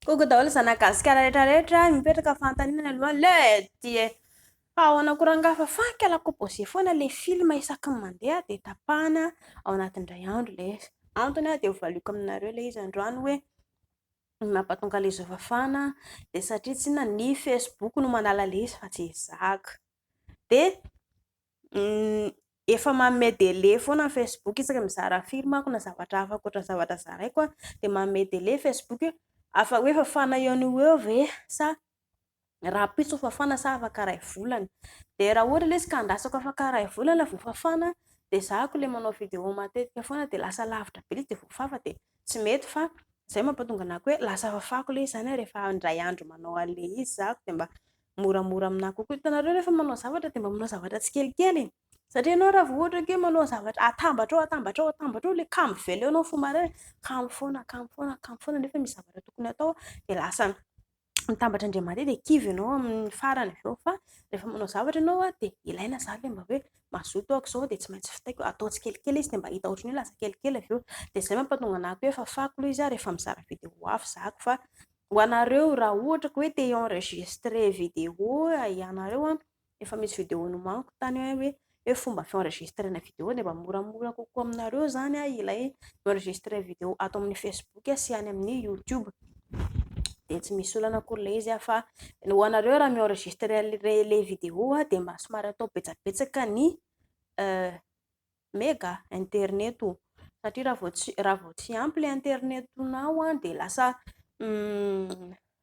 Koko daholo zanak'i Gasikara rehetra rehetra mipetraka fanontaniana aloha le dia fa ahoana koa rangahy fa fanika la composé foana le film isaky ny mandeha dia tapahana ao anatin'ny indray andro le izy. Antony dia hovaliako aminareo le izy androany hoe ny mampatonga le zao fafana dia satria tsy inona ny facebook no manala le izy fa tsy ezahako dia. Efa manome délai foana ny facebook isaka mizara firy manko na zavatra hafa ankoatra ny zavatra zaraiko a, dia manome délai facebook hoe afa hoe fafana eo no ho eo ve sa rahampitso vao fafana sa afaka iray volana, dia raha ohatra ilay izy ka andrasako afaka iray volana vao fafana dia zahako ilay manao vidéo matetika foana dia lasa lavitra be ilay izy dia voafafa dia tsy mety fa izay no mampatonga anako hoe lasa fafako ilay izy izany rehefa indray andro manao an'ilay izy zahako dia mba moramora aminà kokoa. Hitanareo rehefa manao zavatra dia mba manao zavatra tsikelikely e! Satria ianao raha vao ohatra hoe manao zavatra atambatra ao atambatra ao atambatra ao ilay kamo veleonao fo maraina hoe kamo foana kamo foana kamo foana nefa misy zavatra tokony atao dia lasa mitambatra indray mandeha dia kivy ianao amin'ny farany avy eo fa rehefa manao zavatra ianao dia ilaina izany ilay mba hoe mazoto aho aok'izao dia tsy maintsy vitaiko atao tsikelikely izy dia mba hita ohatran'ny hoe lasa kelikely avy eo dia izay mampahatonga anà koa hoe efa fako aloha izy aho rehefa mizara vidéo hafa zahako fa Ho anareo raha ohatra ka hoe te enregistrer vidéo ianareo an, efa misy vidéo nomaniko tany hoe hoe fomba fienregistrena vidéo dia mba moramora kokoa aminareo izany an ilay enregistrer vidéo ato amin'ny facebook sy any amin'ny youtube dia tsy misy olana akory ilay izy an fa ny ho anareo raha mi-enregistrer ilay vidéo dia mba somary atao betsabetsaka ny mega internet o satria raha vao tsy raha vao tsy ampy le internetonao an de lasa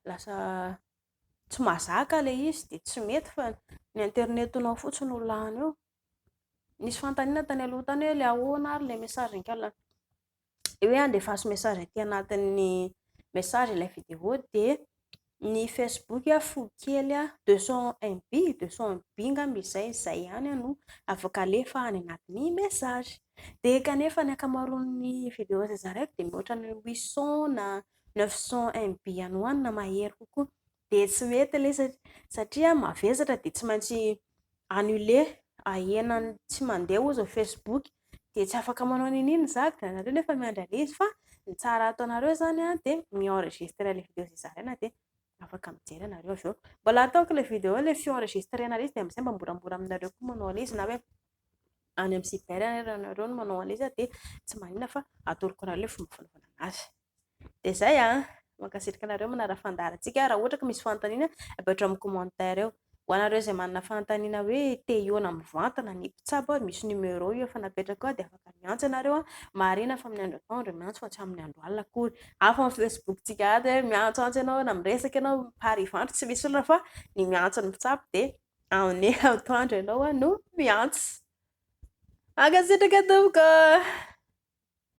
lasa tsy mazaka le izy de tsy mety fa ny internetonao fotsiny no lany eo nisy fanontaniana tany aloha tany hoe le ahoana ary le message an-kala hoe andefaso message aty anatin'ny message ilay vidéo dia ny facebook a fo kely a 201 MB 201 MB ngamba izay izay ihany no afaka alefa any anatin'ny message dia kanefa ny ankamaroan'ny vidéo izay zaraiko dia mihoatra ny 800 na 900 MB any ho any na mahery kokoa dia tsy mety ilay izy satria mavesatra dia tsy maintsy annuler ahena ny tsy mandeha hozy ny facebook dia tsy afaka manao n'in n'in za dia nareo nefa miandry an'ilay izy fa ny tsara ataonareo izany an dia mi enregistrer ilay video izay zaraina dia afaka mijery ianareo avy eo mbola ataoko ilay video ilay fi enregistrer an'ilay izy dia amin'izay mba moramora aminareo koa manao an'ilay izy na hoe any amin'ny cyber ary ianareo no manao an'ilay izy dia tsy maninona fa atoroko anareo ilay fomba fanaovana an'azy Dia izay an! Mankasitraka anareo manara fandaharantsika. Raha ohatra ka misy fanontaniana, apetrao amin'ny commentaire eo. Ho anareo izay manana fanontaniana hoe te hihaona mivantana ny mpitsabo an, misy numéro io efa napetrakao ao dia afaka miantso ianareo an! Marina fa amin'ny andro atoandro dia miantso fa tsy amin'ny andro alina akory. Hafa amin'ny facebook-tsika ato hoe miantsoantso ianao na miresaka ianao par Ivandry tsy misy olona fa ny miantso ny mpitsabo dia amin'ny atoandro ianao no miantso. Mankasitraka tompoko!